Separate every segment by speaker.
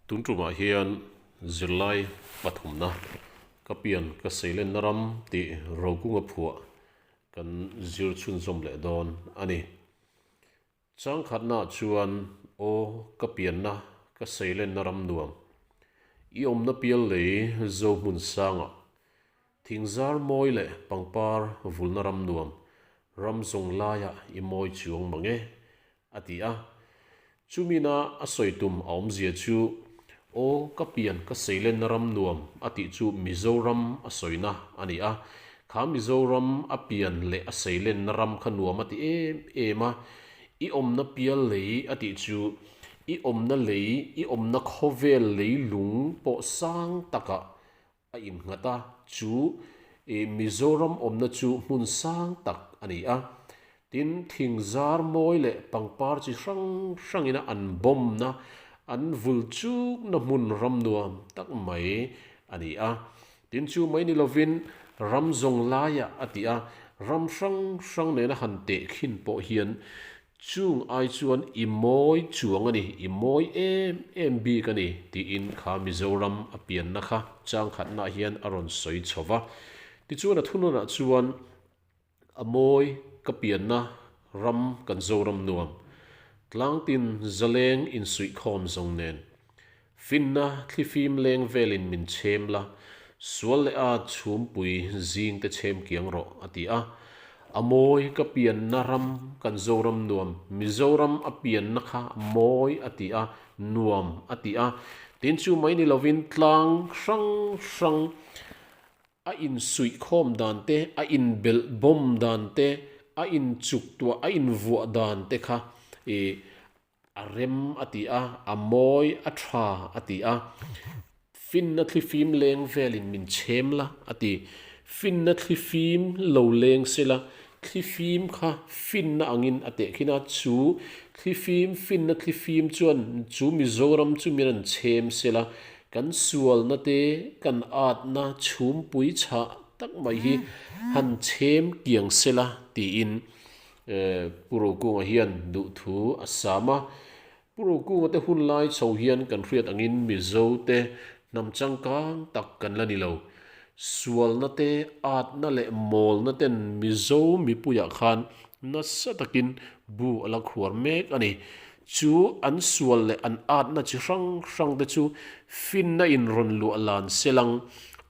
Speaker 1: Tun tumah hian zirlai pathumna ka pian ka seilenna ram tih rokunga phuah kan zir chhunzawm leh dawn a ni. Changkhatnaah chuan aw ka pianna ka seilenna ram nuam i awmna pial lei zo hmun sangah Thing zar mawi leh pangpar vulna ram nuam ram zawng laiah i mawi chuang mang e, a ti a. Chu mina a sawi tum a awmzia chu, Aw ka pian ka seilenna ram nuam a tih chu Mizoram a sawina a ni a. Kha Mizoram a pian leh a seilenna ram kha nuam a ti em em a. I awmna pial lei a tih chu i awmna lei, i awmna khawvel lei lung pawh sang takah a innghat a, chu i Mizoram awmna chu hmun sang tak a ni a, tin thing zar mawi leh pangpar chi hrang hrangin an bawmna, an vul chukna hmun ram nuam tak mai a ni a, tin chu mai ni lovin ram zawng laia a ti a, ram hrang hrang nena han teh khin pawh hian Chung ai chuan i mawi chuang a ni, i mawi em em bik a ni, tiin kha Mizoram a pianna kha changkhatnaah hian a rawn sawi chho va. Tichuan a thununah chuan a mawi ka pianna ram kan Zoram nuam. Tlangtin zaleng insuihkhawm zawng nen. Finna thlifim leng velin min chhem la, sual leh a chhumpui zing te chhem kiang rawh, a ti a. A mawi ka pianna ram kan Zoram nuam, Mizoram a pianna kha mawi a ti a, nuam a ti a. Tin chu mai ni lovin tlang hrang hrang a insuih khawm dan te, a inbelh bawm dan te, a inchuk tuah, a invuah dan te kha i A rem a ti a, a mawi a tha a ti a. Finna thlifim leng velin min chhem la a ti. Finna thlifim lo leng se la, thlifim kha finna angin a tehkhin a. Chu thlifim, finna thlifim chuan chu Mizoram chu min rawn chhem se la, kan sualna te, kan atna chhumpui chhah tak mai hi han chhem kiang se la tiin. Pu Rokunga hian duhthu a sam a, Pu Rokunga te hun lai chho hian kan hriat angin Mizo te hnam changkang tak kan la ni lo. Sualna te, atna leh mawlna ten Mizo mipuiah khan nasa takin bu a la khuar mek a ni. Chu an sual leh an atna chi hrang hrang te chu finna in rawn luah lan selang.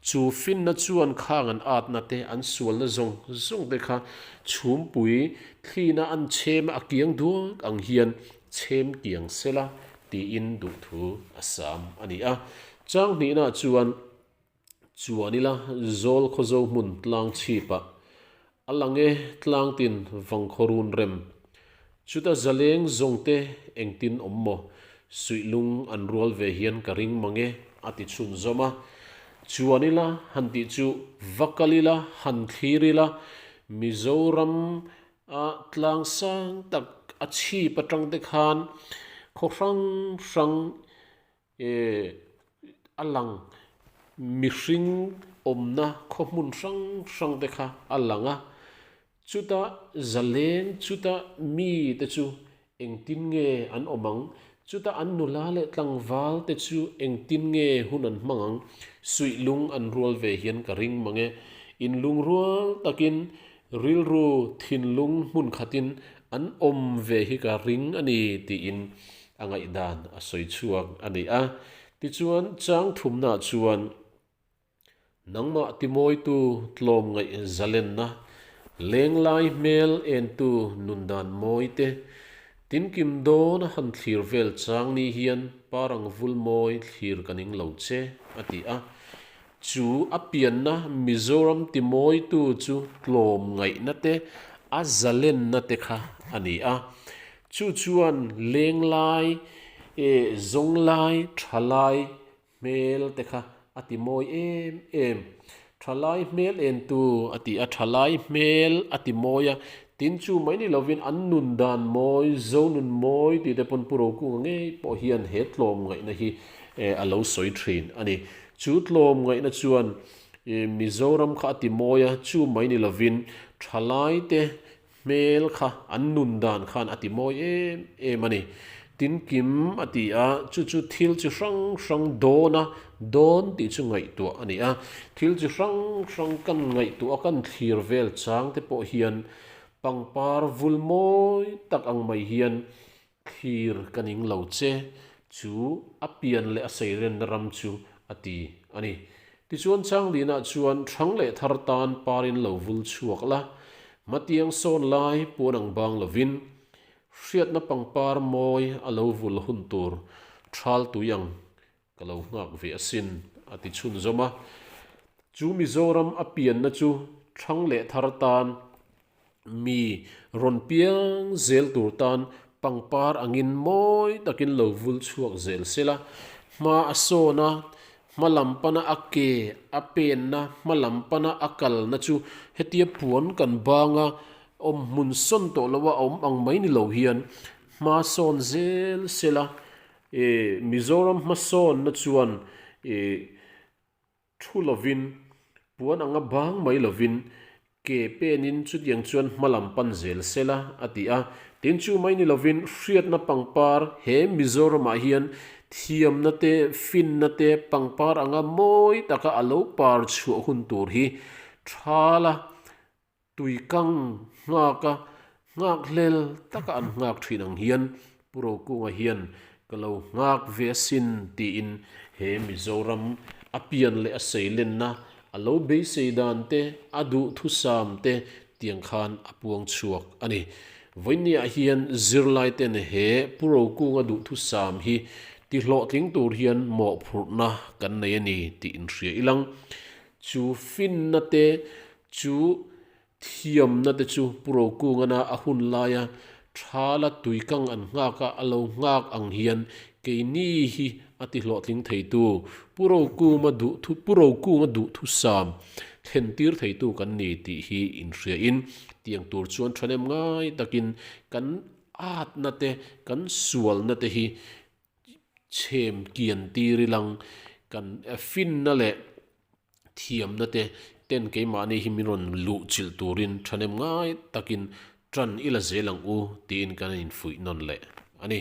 Speaker 1: Chu finna chuan khang an atna te, an sualna zawng zawng te kha chhumpui thlina an chhem a kiang duak ang hian chhem kiang sela tiin duhthu a sam a ni a. Changhnihna chuan Chuan ila zawl khaw zo hmun tlang chhipah a lang e, tlang tin vang khaw run rem. Chuta zaleng zawng te engtin awm maw? Suihlung an rual ve hian ka ring mang e, a ti chhun zawm a. Chuan ila han tih chu va kal ila han thlir ila Mizoram a tlang sang tak a chhip atang te khan khaw hrang hrang E, a lang. Mihring awmna khawhmun hrang hrang te kha a lang a, chuta zaleng chuta mi te chu engtin nge an awm ang? Chuta an nula leh tlangval te chu engtin nge hun an hmang ang? Suih lung an rual ve hian ka ring mang e. In lungrual takin Rilru thinlung hmun khatin an awm ve hi ka ring a ni tiin a ngaihdan a sawi chhuak a ni a. Tichuan, changthumna chuan nangmah timawitu tlawm ngaih zalenna, lenglai hmel entu nun dan mawi te, tin kim dawn a han thlir vel chang ni hian pa rangvul mawi thlir ka ning lo che a ti a. Chu a pianna Mizoram timawitu chu tlawm ngaihna te, a zalenna te kha a ni a. Chu chuan leng lai, zawng lai, tha lai hmel te kha a ti mawi em em. Tha lai hmel en tu a ti a, tha lai hmel a ti mawi a. Tin, chu mai ni lovin an nun dan mawi, zo nun mawi tih te pawn Pu Rokung a ngei pawh hian he tlawm ngaihna hi a lo sawi thin a ni. Chu tlawm ngaihna chuan Mizoram kha a ti mawi a, chu mai ni lovin thalai te hmel kha an nun dan khan a ti mawi em em a ni. Tin Kim a ti a, chu chu thil chi hrang hrang dawn a, dawn tih chu ngaihtuah a ni a, thil chi hrang hrang kan ngaihtuah a, kan thlir vel chang te pawh hian pangpar vul mawi tak ang mai hian Thlir ka ning lo che chu a pian leh a seirenna ram chu a ti a ni. Tichuan Changlina chuan hrang leh thar tan parin lo vul chhuak la, Matiang sawn lai puan ang bang lovin hriatna pangpar mawi a lo vul hun tur ṭhal tui ang Ka lo nghak ve asin, a ti chhun zawm a. Chu Mizoram a pianna chu thang leh thar tan mi rawn piang zel tur tan pangpar angin mawi takin lo vul chhuak zel se la, hma a sawna, hma lam pana a ke a penna, hma lam pana a kalna chu hetia puan kan banga awm hmun sawn tawh loh a awm ang mai ni lo hian hma sawn zel se la, I Mizoram hmasawnna chuan i thu lovin, puan anga bang mai lovin ke penin chutiang chuan hma lam pan zel se la a ti a. Tin, chu mai ni lovin hriatna pangpar he Mizoramah hian thiamna te, finna te pangpar anga mawi taka a lo par chhuah hun tur hi tha la Tui kang nghak a nghak hlel taka an nghak thin ang hian Pu Rokunga hian ka lo nghak ve asin tiin he Mizoram a pian leh a seilenna, a lo beisei dan te, a duh thusam te tiang khan a puang chhuak a ni. Vawinia hian zirlaiten he Pu Rokunga duh thusam hi ti hlawhtling tur hian mawhphurhna kan nei a ni tiin hria ilang. Chu finna te Chu thiamna te chu Pu Rokungana a hun lai a, tha la tui kang an nghak a, a lo nghak ang hian keini hi a ti hlawhtling theitu, Pu Rokuma duhthu Pu Rokunga duhthusam thlen tir theitu kan ni tih hi inhriain tiang tur chuan thanem ngai takin kan atna te kan sualna te hi chhem kian tir i lang. Kan finna leh thiamna te ten keimahni hi min rawn luh chilh turin thahnem ngai takin tan i la zel ang u tiin kan infuih nawn leh a ni.